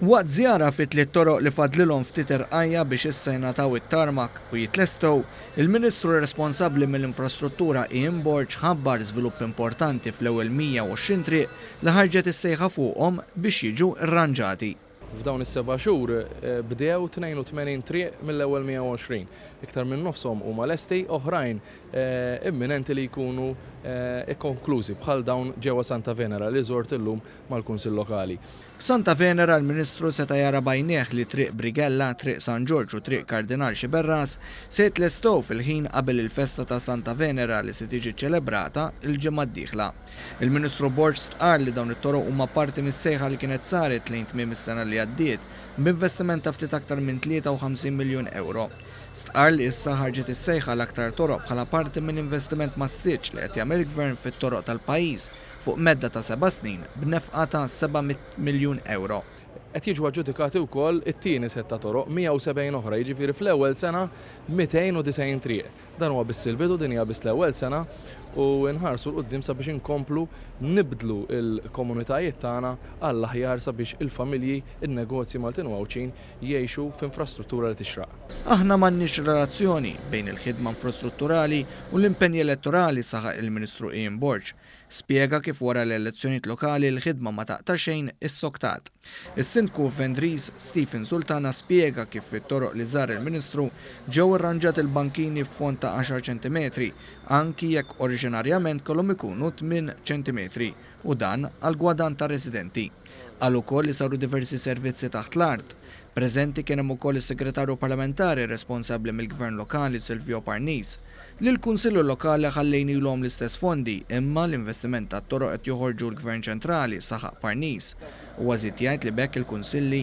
Waqt żjara fi tliet toroq li fadlilhom ftit irqajja' biex issa jingħataw it-tarmak u jitlestew, il-Ministru responsabbli mill-Infrastruttura Ian Borg ħabbar żvilupp importanti fl-ewwel 120 triq li ħarġet is-sejħa fuqhom biex jiġu rranġati. F'dawn is-seba' xhur bdew 82 triq mill-ewwel 120. Iktar minn nofshom huma lesti, oħrajn imminenti li jkunu kkonklużi, bħal dawn ġewwa Santa Venera li żort illum mal-Kunsill Lokali. F'Santa Venera l-Ministru seta' jara b'għajnejh li Triq Brighella, Triq San Ġorġ u Triq Kardinal Sciberras se jitlestew fil-ħin qabel il-festa ta' Santa Venera li se tiġi ċċelebrata l-ġimgħa d-dieħla. Il-Ministru Borg stqarr li dawn it-toroq huma parti mis-sejħa li kienet saret lejn tmiem is-sena li għaddiet b'investiment ta' ftit aktar minn 53 miljun ewro. Stqarr li issa ħarġet is-sejħa għal aktar toroq bħala parti minn investiment massiċċ li qed jagħmel il-Gvern fit-toroq tal-pajjiż fuq medda ta' seba' snin b'nefqa ta' 700 miljun ewro. Qed jiġu aġġudikati wkoll it-tieni sett ta' toroq, 170 oħra, jiġifieri fl-ewwel sena 290 triq. Dan huwa biss il-bidu, din hija biss l-ewwel sena u nħarsu 'l quddiem sabiex inkomplu nibdlu l-komunitajiet tagħna għall-aħjar sabiex il-familji, in-negozji Maltin u Għawdxin jgħixu f'infrastruttura li tixraq. Aħna m'għandniex relazzjoni bejn il-ħidma infrastrutturali u l-impenji elettorali, saħaq il-Ministru Ian Borg. Spjega kif wara l-elezzjonijiet lokali l-ħidma ma taqta' xejn issoktat. Is-Sindku Vendriż Stephen Sultana spjega kif fit-toroq li żar il-Ministru ġew irranġati l-bankini b'fond ta' għaxar ċentimetri anki jekk oriġinarjament kellhom ikunu tmien ċentimetri u dan għall-gwadann tar-residenti. Qal ukoll li saru diversi servizzi taħt l-art. Preżenti kien hemm ukoll is-Segretarju Parlamentari responsabbli mill-Gvern Lokali Silvio Parnis, li l-Kunsilli Lokali ħallejnilhom l-istess fondi imma l-investiment tat-toroq qed joħorġu l-Gvern Ċentrali, saħaq Parnis. Huwa żied jgħid li b'hekk il-Kunsilli,